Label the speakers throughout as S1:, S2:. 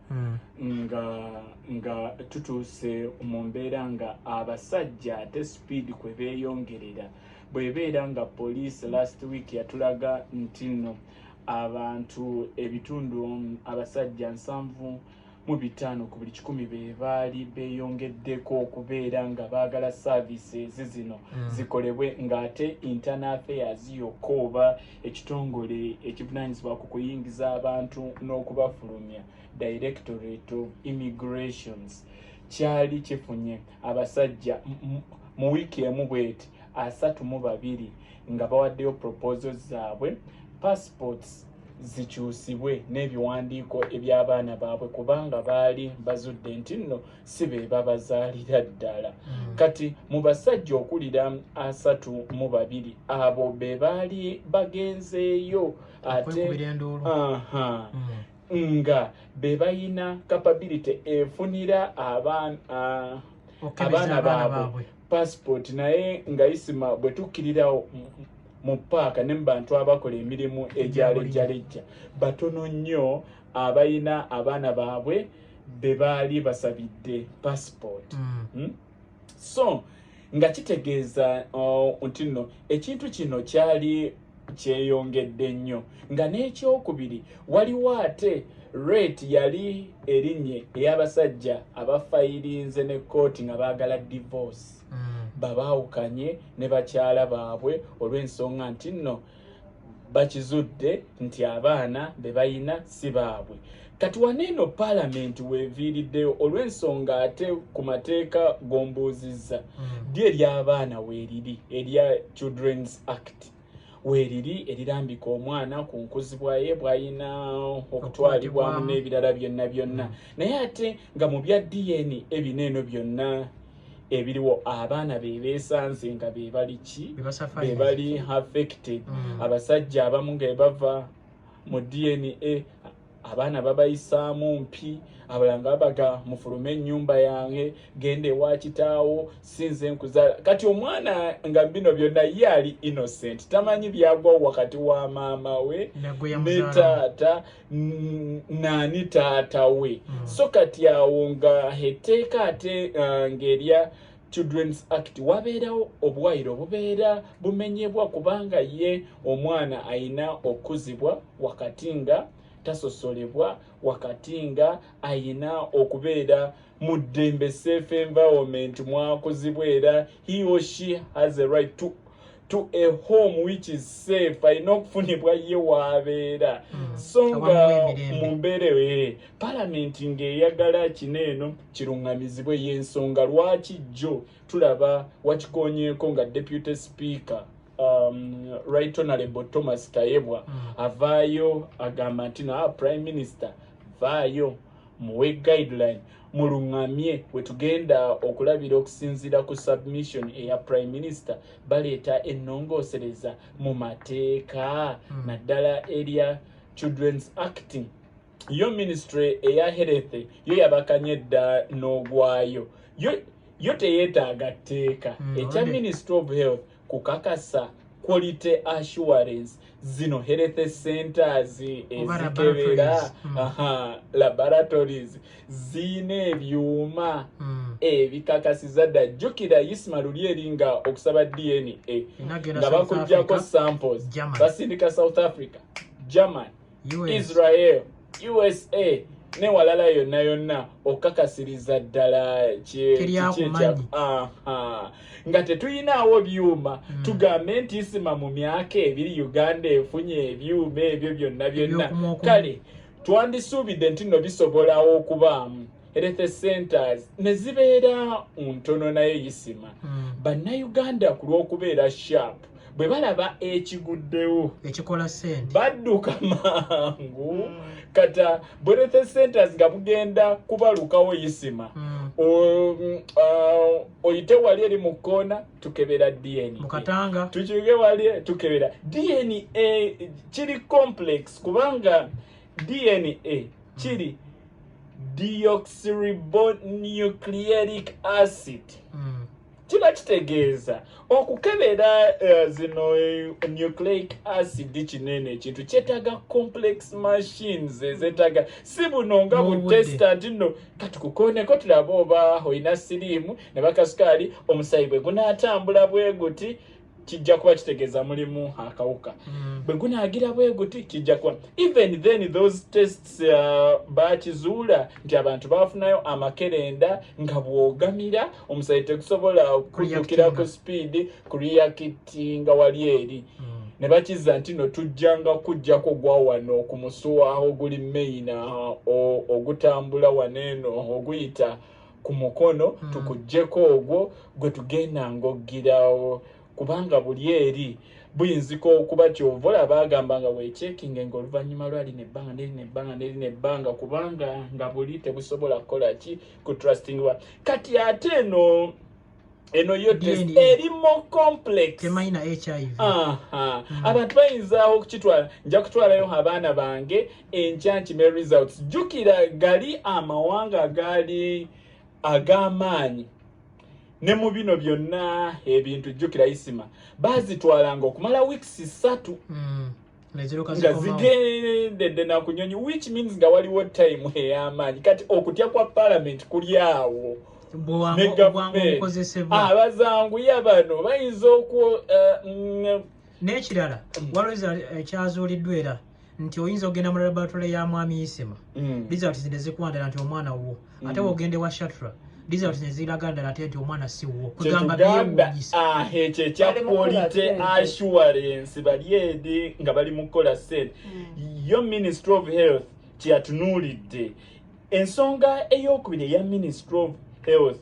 S1: hmm. nga nga tutuuse mu mbeera nga abasajja ate speed kwe beeyongerera bwebeera nga police last week yatulaga nti nno abantu ebitundu abasajja nsanvu mu bitaano ku buli kikumi be baali beeyongeddeko okubeera nga baagala services zino hmm. zikolebwe ng'ate internal affairs yokka oba ekitongole ekivunanyizibwa ku kuyingiza abantu n'okubafulumya directorate of immigrations kyali kifunye abasajja mu wiiki emu bweti asatu mu babiri nga bawaddeyo proposo zaabwe passports zikyusibwe n'ebiwandiiko eby'abaana baabwe kubanga baali bazudde nti nno si be babazaalira ddala hmm. kati mu basajja okulira asatu mu babiri abo be baali bagenzeeyo ate hmm. nga be bayina kapability efunira abaana baabwe passport naye nga isima bwe tukkirirawo mu paaka ne mu bantu abakola emirimu egyalejjalejja batono nnyo abayina abaana baabwe be baali basabidde passport mm. hmm? so nga kitegeeza oh, nti nno ekintu kino kyali kyeyongedde nnyo nga n'ekyokubiri waliwo ate rate yali erinye ey'abasajja abafayirinze ne kkooti nga baagala divorce mm. babaawukanye ne bakyala baabwe olw'ensonga nti nno bakizudde nti abaana be bayina si baabwe kati wano eno paalamenti weeviiriddeyo olw'ensonga ate ku mateeka gombuuzizza hmm. ddi ery'abaana weeriri erya children's act weeriri erirambika omwana ku nkuzibwa ye bw'ayina okutwalibwamu n'ebirala byonna byonna hmm. naye ate nga mu bya dna ebino eno byonna ebiriwo abaana bebesanze nga bebali ki bebali affected mm. abasajja abamu nga bava mu dna abaana babayisaamu mpi abalanga babaga mufulume ennyumba yange genda ewa kitaawo sinze nkuzaala kati omwana nga bino byonna ye ali innocent tamanyi byagwawo wakati wa maama we ne taata nani taata we mm. so kati awo nga heteeka ate uh, ngerya children's act wabeerawo obwayiro bubeera bumenyebwa kubanga ye omwana ayina okukuzibwa wakati nga tasosolebwa wakati nga ayina okubeera mu ddembe safe environment mwakuzibwa era he or she has a right to to a home which is safe alina okufunibwa ye waabeera hmm. so nga mu mbeera eyo eh, palamenti ng'eyagala kino eno kiruŋŋamizibwe y'ensonga lwaki jjo tulaba wakikonyeeko nga deputy speaker um, right honorable thomas tayebwa mm. avaayo agamba nti naa prime minister vaayo muwe guideline mulungamye wetugenda okulabira okusinzira ku submission eya prime minister baleeta ennongoosereza mu mateeka hmm. naddala erya children's acting yo ministry eya health yo yabakanye dda n'ogwayo yo yo teyeetaaga tteeka hmm, ekya ministry of health kukakasa quality assurance zino health centers ezikebera hmm. laboratories ziyina ebyuma hmm. ebikakasiza dda jjukira isma luli eri nga okusaba dna nga bakujjako samples basindika south africa german israel usa newalala yonna yonna okukakasiriza ddala nga tetuyinaawo byuma hmm. tugambe nti isima mu myaka ebiri uganda efunye ebyuma ebyo byonna byonna kale twandisuubidde nti no bisobolawo okubaamu health centers ne zibeera ntono naye yisima hmm. bannayuganda ku lw'okubeera sharp bwe balaba ekiguddewo ekikola sente
S2: badduka
S1: mangu hmm. kata bwerethe centers nga bugenda kubalukawo yisima mm. Um, uh, oyite wali eri mu kkoona tukebera dna tukiuge
S2: wali
S1: tukebera dna kiri complex kubanga DNA kiri deoxyribonucleic acid mm. kiba kitegeeza okukebera uh, zino eh, nucleic acid kinene ekintu kyetaaga complex machines ezetaga si buno nga butesta nti no katukukoneko tulabe oba olina siriimu ne bakasukaali omusayi bwe gunaatambula bwe guti kijja kuba kitegeeza mulimu akawuka mm. bwe gunaagira bwe guti kijja kuba even then those tests uh, bakizuula nti abantu bafunayo amakerenda nga bwogamira omusaayi tegusobola kujukira ku sipiidi kureyakitinga wali eri mm. ne bakiza nti no tujjanga kujjako gwa wano ku musuwa oguli maina uh, ogutambula waneeno oguyita ku mukono mm. tukuggyeko ogwo gwe tugenda ng'oggirawo kubanga buli eri buyinzika okuba kyova olaba agamba nga wekyekinge nga oluvannyuma lwali nebbanga neri nebbanga neri nebbanga kubanga nga buli tebusobola kukola ki ku trustingwa kati ate eno eno yo test eri more complex temanyi na hiv aha
S2: mm.
S1: abantu bayinza okukitwala nja kutwalayo abaana bange enkya nkime results jukira gali amawanga agaali ag'amaanyi ne mu bino byonna ebintu jukira isima bazitwalanga okumala weeks ssatu mm. nga zigendedde nakunyonyi which means nga waliwo time eyamaanyi kati okutya kwa parliament kuli awo abazanguya ah, bano bayinza okwo eh, mm,
S2: n'ekirala mm. waliwo ekyazuuliddwa eh, era nti oyinza okugenda mu laboratory ya mwami isima mm. results ne zikwandala nti omwana wuwo ate wogenda ewa shatra results neziraga ddala ate nti omwana siwuwo kwegamba byewunyisaekyo ah, ekya
S1: quality assurance bali edi nga bali mu kukola sente hmm. yo ministry of health kyeyatunuulidde ensonga eyokubiri eya ministry of health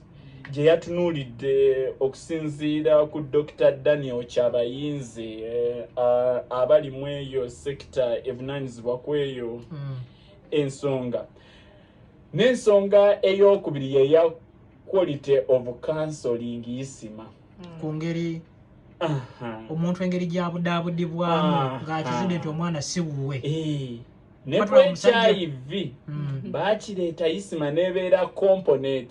S1: gye yatunuulidde okusinziira ku dr daniel kyabayinze eh, abalimu eyo sekita evunanyizibwa kweyo hmm. ensonga mm. N'ensonga ey'okubiri ye ya quality of counseling isima hmm. ku ngeri
S2: omuntu engeri gyabudaabudibwamu ng'akizudde nti omwana si wuwe eh.
S1: ne ku hiv hmm. bakireeta isima n'ebeera component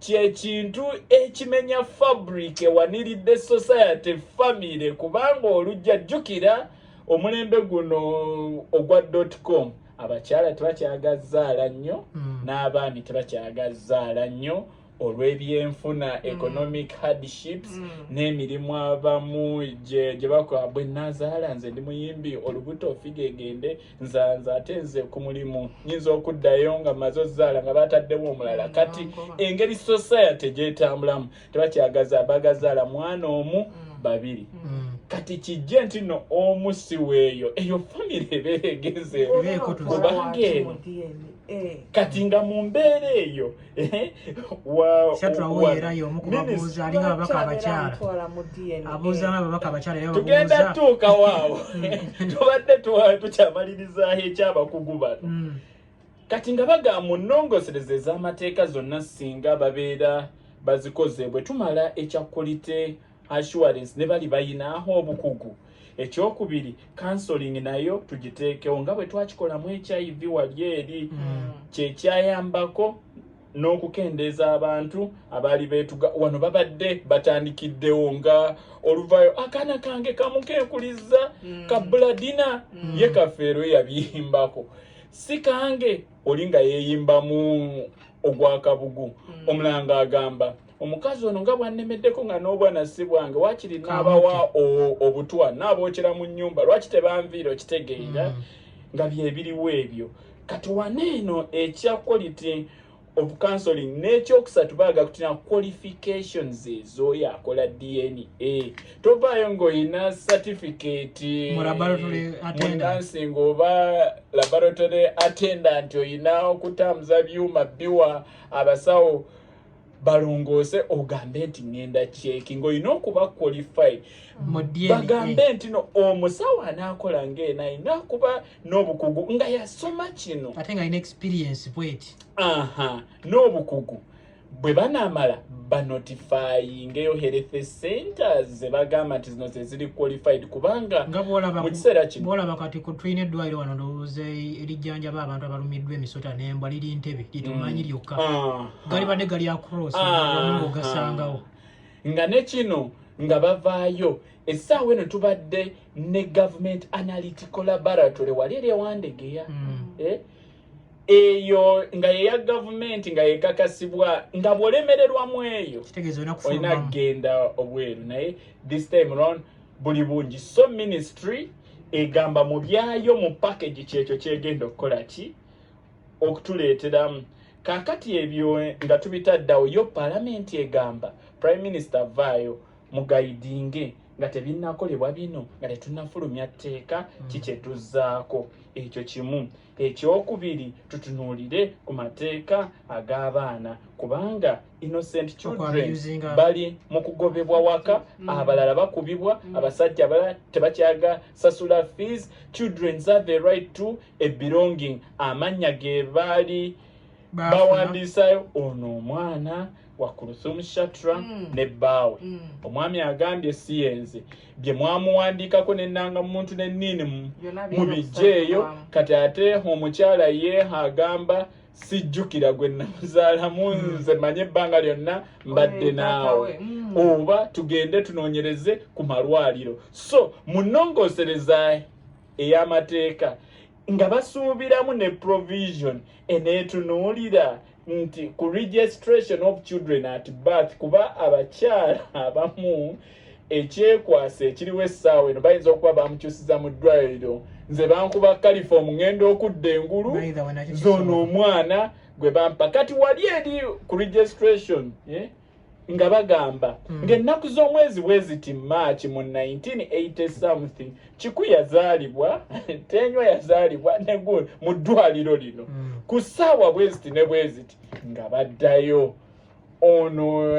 S1: kyekintu ekimenya fabric ewaniridde society famire kubanga olujja jjukira omulembe guno ogwa dotcom abakyala tebakyagazaala nnyo hmm. n'abaami tebakyagazaala nnyo olw'ebyenfuna hmm. economic hardships hmm. n'emirimu abamu gye bakola bwe nazaala nze ndi muyimbi olubuto ofiga egende nzanza ate nze ku mulimu nyinza okuddayo nga maze ozaala nga bataddewo omulala mm, kati engeri society gyetambulamu tebakyagaza bagazaala mwana omu mm. babiri mm. kati kijje nti no omu siweeyo eyo famire ebeera egenzeeyo kubanga eno eh. kati nga mu mbeera eyo shatulawo era y'omu ku babuuza alinga ababaka abakyala abuuza nga ababaka abakyala era tugenda tuuka waawo tubadde tukyamalirizaho ekyabakugu bano hmm. kati nga bagamba mu nnongosereza ez'amateeka zonna singa babeera bazikoze bwe tumala ekyakulite assurance ne bali bayinaaho obukugu ekyokubiri counseling nayo tugiteekewo nga bwe twakikolamu hiv wali eri mm. kyekyayambako n'okukendeeza abantu abaali beetuga wano babadde batandikiddewo nga oluvayo akaana kange kamukeekuliza mm. ka buladina mm. ye kafeero yabiyimbako si kange oli nga yeeyimbamu ogwakabugu omulanga agamba omukazi ono nga bwannemeddeko nga n'obwana si bwange waakiri naabawa obutwa naabookera mu nnyumba lwaki tebanviira okitegeera mm. nga byebiriwo ebyo kati wane eno ekya quality of counseling n'ekyokusatu baaga kutina qualifications ezooyo akola dna tovaayo ng'olina certificate munansing oba laboratory attendant olina okutambuza byuma biwa abasawo balongoose ogambe nti ŋenda kyeki ngaolina okuba qualify bagambe nti no omusawo anaakola ngaena alina kuba n'obukugu nga yasoma
S2: kino ate nga
S1: alina
S2: experience bweti aha
S1: n'obukugu bwe banaamala banotifayingeyo health centers zebagamba nti zino zeziri qualified kubanga mu kiseera kino bwolaba kati ku tulina
S2: eddwaliro wano ndowooza erijjanjaba abantu abalumiddwa emisota nembwa liri ntebe litumanyi mm. lyokka ah. galibadde gali across ah. ogasangawo nga
S1: ne kino nga bavaayo essaawa eno tubadde ne government analytical laboratory wali eri ewandegeya mm. eh? eyo nga yeya gavumenti nga yekakasibwa nga bwolemererwa mu eyo olina kugenda obweru naye this time round buli bungi so ministry egamba mu byayo mu package kyekyo kyegenda okukola ki okutuleeteramu kakati ebyo nga tubitaddawo yo palamenti egamba prime minister avaayo mugayidinge nga tebinnakolebwa bino nga tetunnafulumya tteeka hmm. kikyetuzzaako ekyo kimu Ekyokubiri tutunuulire ku mateeka ag'abaana kubanga innocent children bali mu kugobebwa waka mm. abalala bakubibwa mm. abasajja abalala tebakyaga sasula fees children have a right to a belonging amannya ge baali bawandiisayo ono omwana wa kuruthumu shatra mm. ne bbaawe mm. omwami agambye siyenze bye mwamuwandiikako nenanga muntu neniini mubijjeeyo kati ate omukyala yeeha agamba sijjukira gwe namuzaalamu mm. nze manye ebbanga lyonna mbadde naawe mm. oba tugende tunoonyereze ku malwaliro so munongosereza ey'amateeka nga basuubiramu ne provision eneetunuulira nti ku registration of children at birth kuba abakyala abamu ekyekwasa ekiriwo essaawa eno bayinza okuba bamukyusiza mu ddwaliro nze bankuba kalifom ngenda okudda engulu zona omwana gwe bampa kati wali eri ku registration eh? nga bagamba mm. ng'ennaku z'omwezi bweziti maaki mu 1980 something kiku yazaalibwa tenywa yazaalibwa negu mu ddwaliro lino mm. ku ssaawa bweziti ne bweziti nga baddayo ono